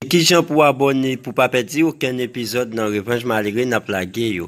Kijan pou abòne pou pa pèdi okenn epizòd nan revanj malere nap lage yo.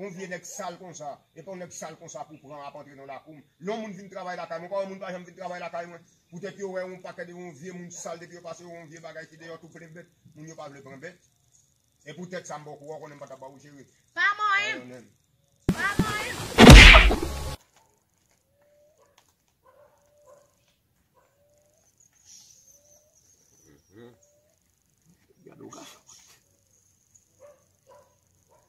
Yon vye nèg sal konsa, epa yon nèg sal konsa pou pran ap antre nan lakou m. Yon moun vin travay lakay mwen, ou pa wè moun pa janm vin travay lakay mwen. Poutèt yo wè yon pakèt de yon vye moun sal depi yo pase yon vye bagay ki deyò tou plen bèt, moun yo pa vle pran bèt. E poutèt sa m ba w kouran, w konnen m pa ta ba w jere. Pa manyen m! Pa manyen m!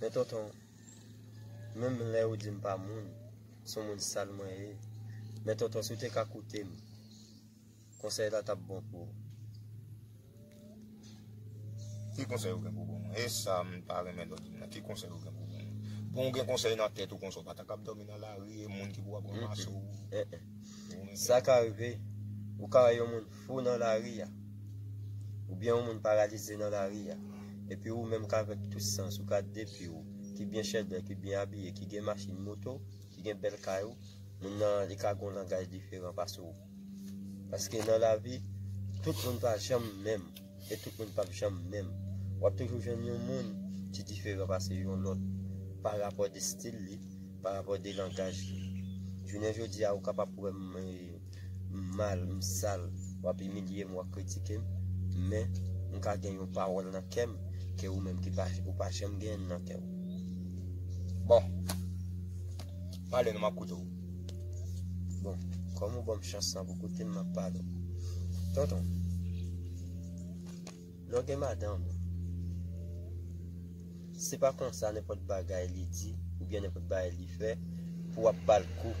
Men tonton, menm lè ou di m pa moun, son moun sal mwen ye. Men tonton, si w te ka koute m, konsèy la t ap bon pou ou. Ki konsèy ou gen pou ban mwen? E sa m ta renmen lòt di m nan. Ki konsèy ou gen pou ban mwen? Bon ou gen konsèy nan tèt ou konsa, ou pa ta kab dòmi nan lari e moun ki pou ap ranmase w. Sa ka rive, ou ka wè yon moun Fou nan lari a. Oubyen yon moun paralize nan lari a. Epi ou menm k'avèk tout sans ou ka depi ou ki byen chèdè, ki byen abiye, ki gen machin, moto, ki gen bèl kay ou, moun nan li ka gon langaj diferan pase ou. Paske nan lavi, tout moun pa janm menm. e tout moun pap janm menm. Wap toujou jwenn yon moun ki diferan pase yon lòt pa rapò de stil li, pa rapò de langaj li. Jounen jodi a ou kapab wè m mal, m sal, wap imilye m, wap kritike m, men m ka gen yon pawòl nan kè m ke ou menm ou pa janm genyen nan kè w. Bon! Pale non map koute w. Bon, kòm ou ban m chans lan pou koute m, map pale w. Tonton, lè w gen madanm ou, se pa konsa nenpòt bagay li di oubyen nenpòt bagay li fè pou w ap ba l kou.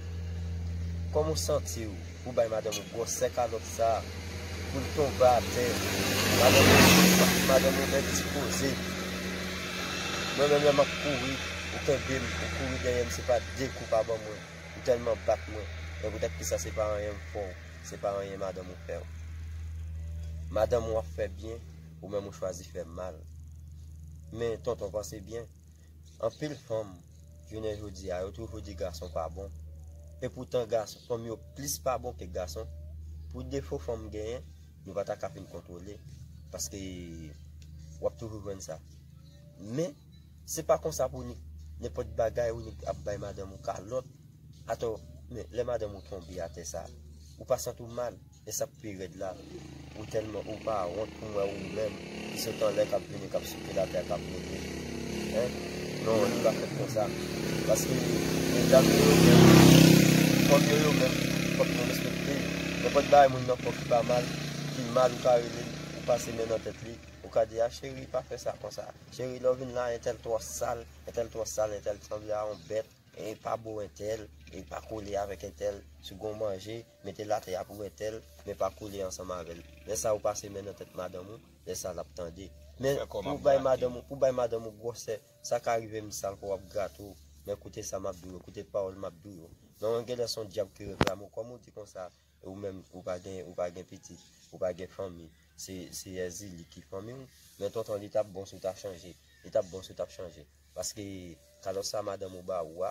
Kòm ou santi w. Ou bay madanm ou gwòsè kalòt sa poul tonbe atè madanm ou fèm madanm ou bèl ti koze mwen menm lè map kouri ou kenbem ou kouri dèyèm se pa de kou pa ban mwen ou tèlman bat mwen men pou tèt kisa se pa anyen m fèw se pa anyen madanm ou fèw madanm ou ap fè byen ou menm ou chwazi fè mal men tonton panse byen. Anpil fanm jounen jodi a yo toujou di gason pa bon e poutan gason fanm yo plis pa bon ke gason pou defo fanm genyen nou pa ta ka fin kontwole paske wap toujou jwenn sa men se pa konsa pou nik nenpòt bagay ou nik ap bay madanm ou kalòt atò men lè madanm ou tonbe atè sa ou pa santi w mal. E sak pi rèd la ou tèlman ou pa wont pou mwen ou menm ki sot anlè kap vini kap souke latè kap moute hein non li pa fèt konsa paske medam yo yo menm fanm yo yo menm fòk nou respekte yo nenpòt bagay moun nan fè w ki pa mal ki mal ou ka relel ou pase men nan tèt li ou ka di a cheri pa fè sa konsa cheri lè w vin la entèl twò sal entèl twò sal entèl sanble a yon bèt e pa bo entèl e pa kole avèk entèl si w gon manje mete l atè ap wete l men pa kole ansanm avè l lè sa ou pase men nan tèt madanm ou lè sa l ap tande men pou w bay madanm ou pou w bay madanm ou gwòsè sa ka rive m sal kò w ap grate w men koute sa m ap di w yo koute pawòl m ap di w yo non an genlè s on dyab ki reklame w kòm ou di konsa e ou menm ou pa gen ou pa gen pitit ou pa gen fanmi se se èzili ki fanmi w men tonton li t ap bon si w ta chanje li t ap bon si w t ap chanje paske kalòt sa madanm ou ba ou a.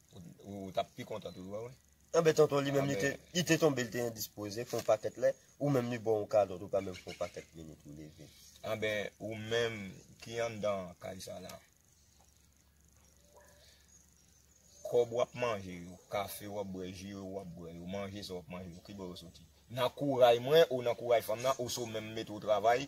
Ou tap pi kontan tou wè wè. Anben tonton li menm li te tonbe li te endispoze fon pakèt lè ou menm li baw kalòt ou pa menm fon pakèt minit ou leve. Anben ou menm ki anndan kay sa la kòb wap manje yo, kafe wap bwè, ji yo wap bwè yo, manje sa wap manje yo kibò yo soti? Nan kouray mwen ou nan kouray fanm nan ou se w menm mete w travay?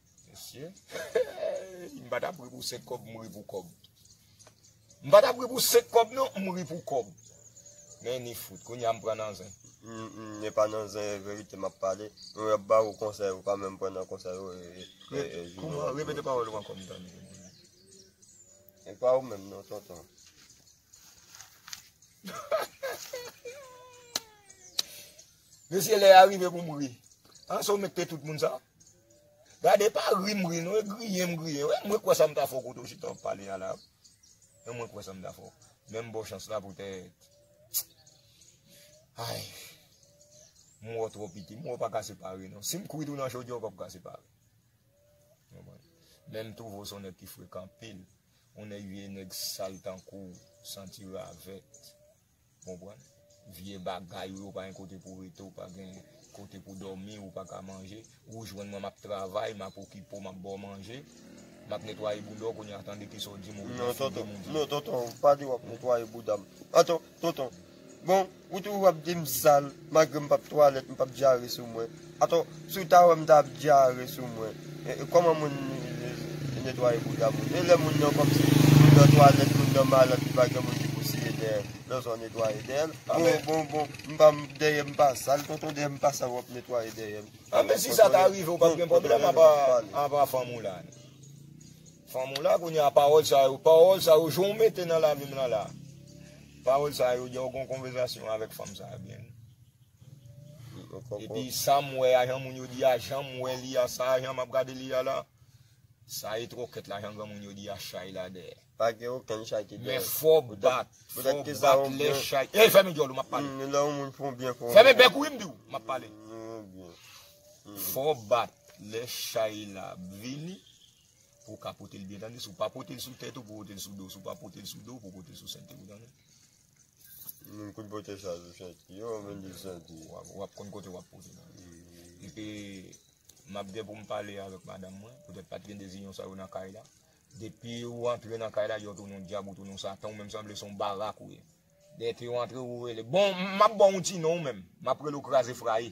Mesye, m pa tap ri pou 5 kòb, m ri pou kòb. M pa tap ri pou 5 kòb non, m ri pou kòb. Men ni fout, kounye a m pran nan zen. M e pa nan zen, e verite m ap pale. Yo ap ba ou konsèy, ou pa menm pran nan konsèy yo. Kouman, repete pawòl ou ankò m tande. E pa ou menm non tonton. Mesye lè a rive pou m ri. An sa ou met pe tout moun sa a? Gade pa ri m ri non e griyen m griyen wi mwen kwè sa m ta fè w kote w chita w ap pale a la e mwen kwè sa m ta fè w men m ba w chans la poutèt ayy m wè w twò piti m wè w pa ka separe non si m kwit ou nan chodyè w pap ka separe men m twouve w se w nèg ki frekan anpil ou nèg vye nèg sal tankou w santi ravèt. Ou konprann? Vye bagay ou yo pa gen kote pou rete, ou pa gen kote pou dòmi, ou pa ka manje. Ou jwenn mwen m ap travay, m ap okipe w, m ap ba w manje. M ap netwaye bouda w kounye a tande ki sa w di m ou byen figi m ou di. Non tonton, non tonton, pa di w ap netwaye bouda m. Atò, tonton, bon, ou toujou ap di m sal malgre m p ap twalèt, m p ap dyare sou mwen. Atò, si w ta wè m ta ap dyare sou mwen, kòman moun netwaye bouda moun? E lè moun nan kòmsi moun nan twalèt, moun nan malad li pa gen moun ki pou siye dèyè l, lè w sa w netwaye dèyè l? Bon, bon, bon, m pa, dèyè m pa sal tonton, dèyè m pa sal w ap netwaye dèyè m? A men si sa ta rive w p ap gen pwoblèm anba fanm ou la? Fanm ou la kounye a pawòl sa yo, pawòl sa yo, jan w mete nan lavi m lan la, pawòl sa yo, depi w gen yon konvèzasyon avèk fanm sa a byen. Epi sa m wè a, jan moun yo di a, jan m wè li a, sa a jan m ap gade li a la, sa e tròkèt la jan granmoun yo di a, chay la dèyè. Pa gen okenn chay ki dèyè. Men fò w bat, fò w bat lè chay. Ey fèmen dyòl ou m ap pale. Lè yon moun fè w byen fò w. Fèmen bèk ou wi m di w, m ap pale. Fò w bat lè chay la ap vini pou w ka pote l byen tande. Si w pa pote l sou tèt ou pou w pote l sou do w. Si w pa pote l sou do w pou w pote l sou sènt ou tande. Mwen kout bote sa yo soti yo mwen di soti. Wap konn kote wap pote nan. E pi map gen pou m pale avèk madanm mwen, poutèt pat gen de zinyon sa yo nan kay la. Depi ou antre nan kay la yo tounen yon dyab ou tounen yon satan ou menm sanble son barak ou ye. Dèke ou antre ou rele bon map baw yon ti non ou menm, map rele ou kraze fraye.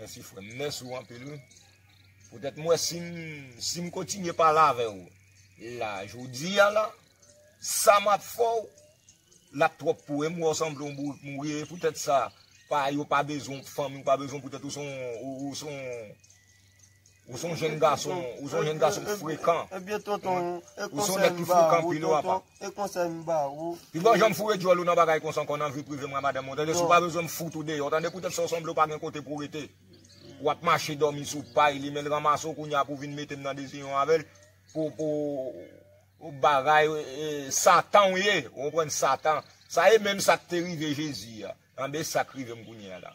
Mèsi frè m, mèsi ou anpil wi. Poutèt mwen si m si m kontinye pale avè ou la jodi a la, sa m ap fè ou la twòp pou ou e m wè ou sanble yon bourik mouri e poutèt sa pa yo pa bezwen w pou fanmi w pa bezwen w poutèt ou se yon ou se yon Ou son jèn gason, ou son jèn gason frekan. Ebyen tonton, e konsèy m ba ou tonton, e konsèy m ba ou. Pi bon janm foure dyòl ou nan bagay konsa ankò nan vi prive mwen a madanm mwen, tande si w pa bezwen m fout ou deyò tande poutèt sa w sanble w pa gen kote pou w rete. W ap mache dòmi sou pay li men l ranmase w kounya pou w vin mete m nan deziyon avè l pou pou bagay satan w ye ou konprann satan. Sa e menm sa k te rive Jezi a, tande sa k rive m kounya la.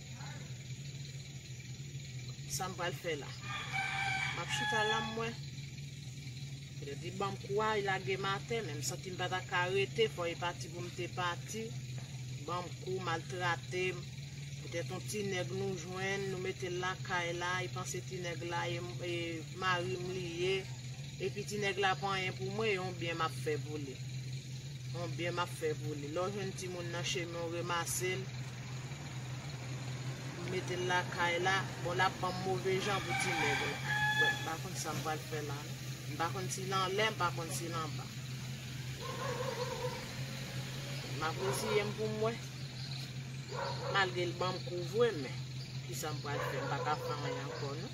Sa m pral fè la. M ap chita la m wè. Yo di ban m kou a, y lage m atè, men m santi m pa ta ka rete, fò e pati pou m te pati. Ban m kou, maltrate m. Petèt on ti nèg nou jwenn, nou mete l lakay la, y panse ti nèg la e mari m li ye. Epi ti nèg la pa anyen pou mwen, e on byen m ap fè pou li. On byen m ap fè pou li. Lè w jwenn timoun nan chemen w remase l. M mete l lakay la. Bon lap banm move jan pou ti neg la. Bon m pa konn sam pral fè la non. M pa konn si l anlè m pa konn si l anba. Map reziyem pou m wè. Malgre l banm kou vre men. Kisa m pral fè m pa ka fè anyen ankò non.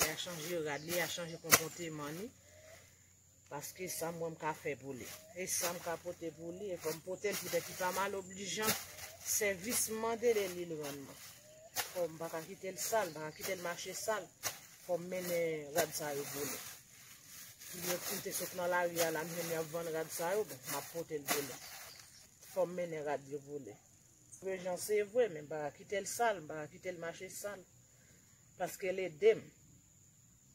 Li a chanje rad li, li a chanje konpòteman li. Paske sa mwen m ka fè pou li. E sa m ka pote pou li, e fò m pote l poutèt li pa mal oblijan. Sèvis m mande de li l rann mwen. Fò m pa ka kite l sal, m pa ka kite l mache sal. Fò m mennen rad sa yo pou li. Si m te sot nan lari a la, m jwenn y ap vann rad sa yo, bon, m ap pote l pou li. Fò m mennen rad yo pou li. Prejan se vre, men m pa ka kite l sal, m pa ka kite l mache sal. Paske l edem.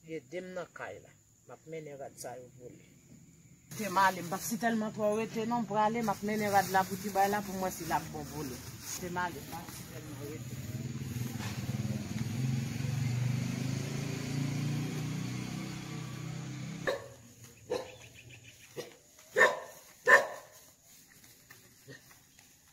Li edem nan kay la. Map mennen rad sa yo pou li. Tem ale m pap si telman tro rete non m prale map mennen rad la pou ti bay la poum wè si lap bon pou li. Tem ale m pap si telman rete.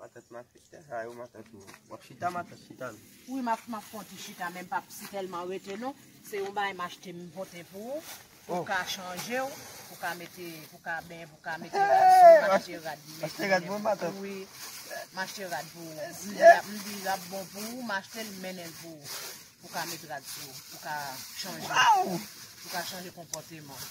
Matant m ap fete sa yo matant m. W ap chita matant chita l. Wi m ap fè yon ti chita men m p ap si tèlman rete non. Se yon bagay m achte m pote pou ou. Pou w ka chanje w. Pou w ka mete pou w ka benyen pou w ka mete rad sou ou. M achte rad pou mete. Achte rad pou mwen matant. Wi m achte rad pou ou. M di l ap bon pou ou m achte l m mennen l pou ou. Pou w ka mete rad sou ou. Pou w ka chanje. Pou w ka chanje konpòteman.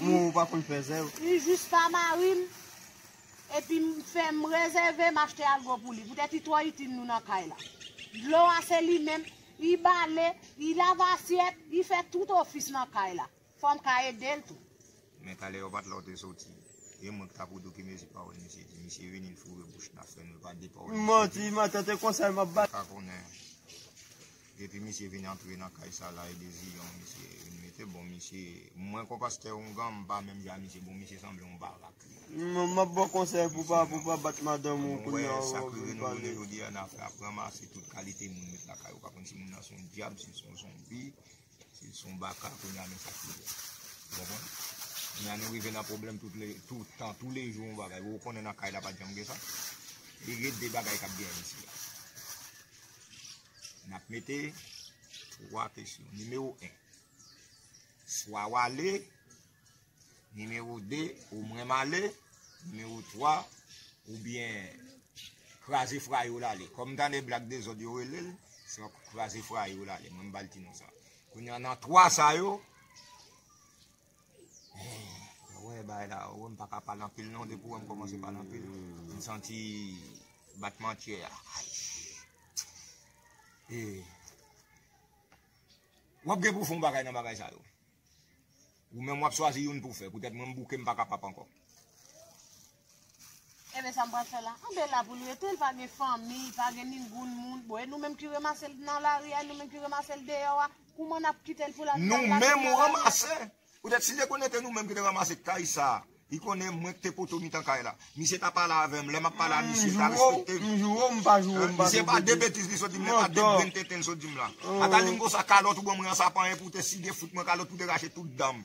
Mwen ou pa konn fèzè ou. U jis pa marim epi m fè m rezève m achte algo pou li poutèt u twò itil nou nan kay la dlo a se li menm u bale u lave asyèt u fè tout ofis nan kay la fò m ka edel tou. Men talè yo pat la ou te soti. E mwen ki tap ou doki mezi pawol misye di. Misye vini l foure bouch nan fren l pa di pawol misye di. Manti, ma tante konsèy map bat. Ou pa konnen. Depi misye vin antre nan kay sa la e de ziyon misye vin mete bon misye mwen kon pastè ongan m pa menm jan a misye bon misye sanble yon barak li. Map baw konsèy pou pa pou pa bat madanm ou kounya wap vin pale. Sak rive nou jounen jodi a nap ranmase tout kalite moun met lakay ou pa konn si moun nan son dyab sil son zonbi sil son baka kounya men sak rive ou konprann kounya nou rive nan pwoblèm tout le tout tan tou le jou yon bagay ou konnen nan kay la pat janm gen sa li gen de bagay kap gen isit la. N ap mete 3 kesyon. Nimewo 1. Swa w ale. Nimewo 2. Ou mwen m ale. Nimewo 3. Ou byen kraze fra yo l ale. Kòm m tande Blak Dezòd yo rele l, se kraze fra yo l ale. Mwen m ba l ti non sa. Kounye an, nan 3 sa yo, Mwen wè bay la ou, mwen pa ka pale anpil non, depi ou wè mwen kòmanse pale anpil, mwen santi batman kyè a. E, w ap gen pou w fè yon bagay nan bagay sa yo. Ou menm w ap chwazi youn pou w fè, poutèt mwen m bouke m pa kapab ankò. Enben sa m pral fè la. Anben l la pou l rete, l pa gen fanmi, l pa gen ningoun moun. Bon, e nou menm ki ranmase l nan lari a, e nou menm ki ranmase l deyò a, kouman n ap kite l pou l al nan lari a? Nou menm ou ranmase! Poutèt si te konnen te nou menm ki te ranmase kay sa a, li konnen mwen ki te poto mitan kay la, misye ta pale avè m, lè m ap pale a misye, l ta respekte m. M joure w m pa joure m pa tou pete. Misye pa de betiz li sot di m la, e pa de grenn tenten l sot di m la. Ata li m konsa, kalòt ou ban mwen an sa pa anyen poutèt si gen fout mwen kalòt pou te rache tout dan m.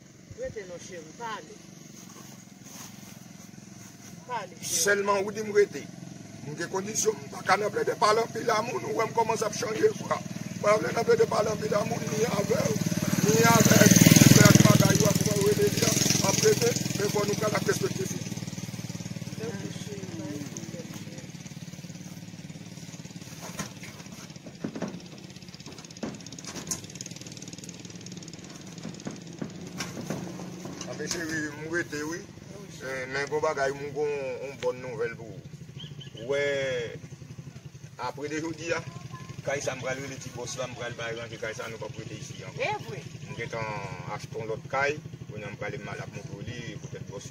Rete non cheri pa ale. Pa ale cheri. Selman ou dim rete. M gen kondisyon m paka nan plede pale anpil a moun ou wem komanse ap chanje vwa. M pa vle nan plede pale anpil a moun ni avew ni avek Tife ak Magay yo ak mwen rele li an ap rete men fò nou pran la prespekte figi. Anfen cheri m rete wi Men gon bagay m gon yon bon nouvel pou ou Ou wè apre de jodi a Kay sa m pral rele ti bòs la m pral bay ranje kay sa nou pap rete isi ankò M gentan achte yon lòt kay Kounye a m prale m al ak moto li poutèt bòs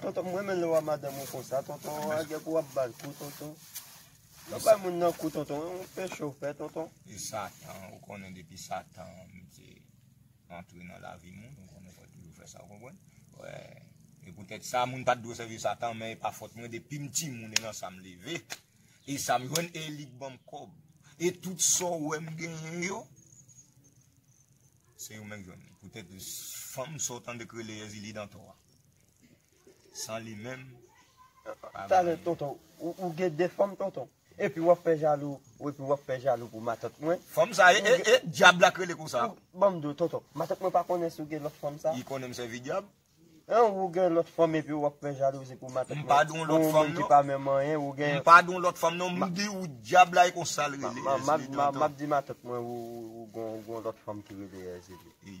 Tonton m renmen lè w a madanm ou konsa tonton an gen pou w ap ba l kou tonton pa bay moun nan kou tonton ou fè cho fè tonton. E satan ou konnen depi satan mete antre nan lavi moun ou konnen fòl toujou fè sa ou konprann wè e poutèt sa moun pat dwe sèvi satan men e pa fòt mwen depi m timoun e nan sa m leve e sa m jwenn e li k ban m kòb e tout sa w wè m genyen yo se yo menm k jwenn poutèt fanm sa w tande k rele Èzili Dantò a. San li menm yo pa ka viv. Tonton ou gen 2 fanm tonton epi wap fè jalou epi wap fè jalou pou matant mwen. Fanm sa e e e dyab la k rele konsa. Banm diw tonton matant mwen pa konnen si ou gen lòt fanm sa. Li konnen m sèvi dyab. Ou gen lòt fanm epi wap fè jalouzi pou matant mwen. M pa don lòt fanm non. M pa don lòt fanm non m diw dyab la e konsa l rele Èzili tonton. Map di matant mwen ou gon lòt fanm ki rele Èzili.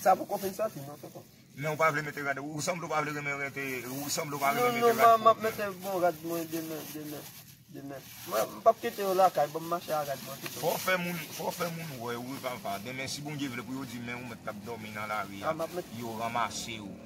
Sa poko fin soti non tonton. Men ou pa vle mete rad. Ou sanble ou pa vle renmen rete. Ou sanble ou pa renmen mete rad. Non non man map mete bon rad mwen demen demen demen. Mwen mpap kite yo lakay banm mache a rad mwen pito. Fò w fè moun fò w fè moun wè ou wi papa. Demen si Bondye vle pou yo di men ou mèt kap dòmi nan lari a yo ranmase ou.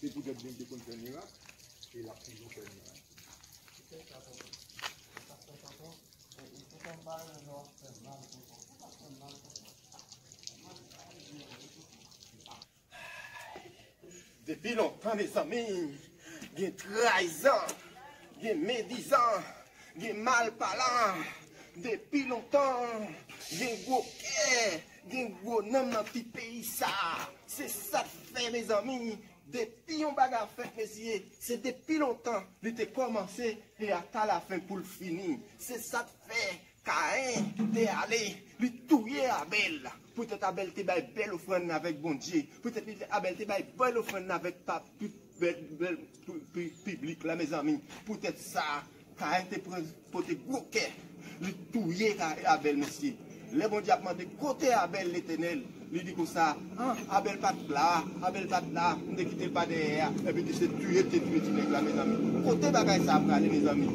Se poutèt Bondye te konn fè mirak e l ap toujou fè mirak. Depi lontan mezanmi, gen trayizan, gen medizan, gen malpalan, depi lontan, gen gwo kè. Gen gwo nanm nan ti peyi sa. Se sak fè mezanmi depi yon bagay fèt mesye se depi lontan li te kòmanse e ata la fen poul fini. Se sak fè Kaen te ale li touye Abèl. Poutèt Abèl te bay bèl ofrann avèk Bondye. Poutèt Abèl te bay bèl ofrann avèk papa. Bèl nouvèl pou piblik la mezanmi poutèt sa Kayen te pran pote gwo kè li touye Abèl mesye lè Bondye ap mande kote Abèl Letènèl li di konsa ah Abèl pat la Abèl pat la m te kitel pa dèyè a epi tou se touye m te touye ti nèg la mezanmi kote bagay sa prale mezanmi.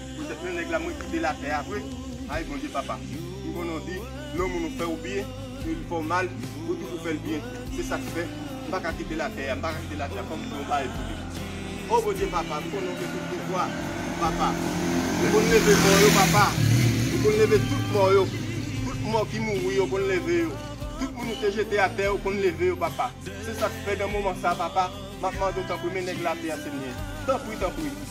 Petèt men nèg la mwen kitel atè a vre ayy Bondye papa m konnen w di lè yon moun ou fèw byen e li fèw mal ou toujou fèl byen se sak fè m paka kitel atè a m paka kitel atè a fòm fè yon bagay pou li oh Bondye papa m konnen w gen tout pouvwa papa ou konn leve mò yo papa ou konn leve tout mò yo tout mò ki mouri yo konn leve yo tout moun ou te jete atè ou konn leve yo papa se sak fè nan moman sa papa map mande w tanpri men nèg la atè a senyè tanpri tanpri.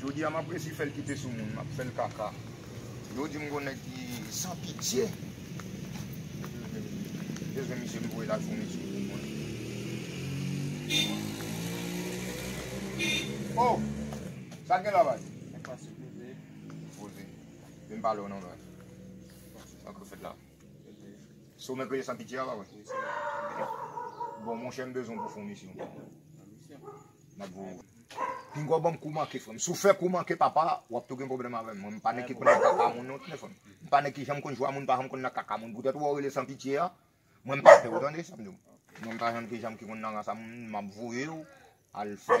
Jodi a map resi fèl kite sou moun map fèl kaka yo dim gon nèg ki san pitye bezwen misye m voye la jounen sou moun mwen oh sa gen la baz. Peze. Poze. Vin pale w non mwen. Sa k ap fèt la? Peze. Se w menm peze san pitye a pa vre? Wi se mwen. Bon monchè m bezwen w pou fon misyon. Fon misyon? M ap voye w. Pinga w ban m kou manke frè m. Si w fè kou manke papa, w ap tou gen pwoblèm avè m. Mwen m pa nèg ki konn nan kaka moun non tande frè m. M pa nèg ki janm konn jwa moun, m pa janm konn nan kaka moun. Poutèt wè w rele san pitye a, mwen m pa pè w tande sa m di w. Mwen m pa janm ki konn nan kaka moun. M ap voye w al fè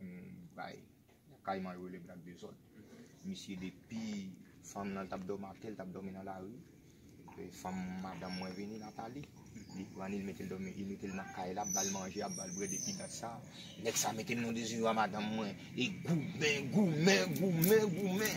Yon bay kayman yo rele blak dezòd. Misye depi fanm lan tap dòmi ak li, tap dòmi nan lari, fanm madanm mwen vini Nathalie, li pran li, li mete l dòmi, li mete l nan kay la, ap bal manje, ap bal bwè depi dat sa, nèg sa mete l nan dezirab madanm mwen e goumen, goumen, goumen, goumen.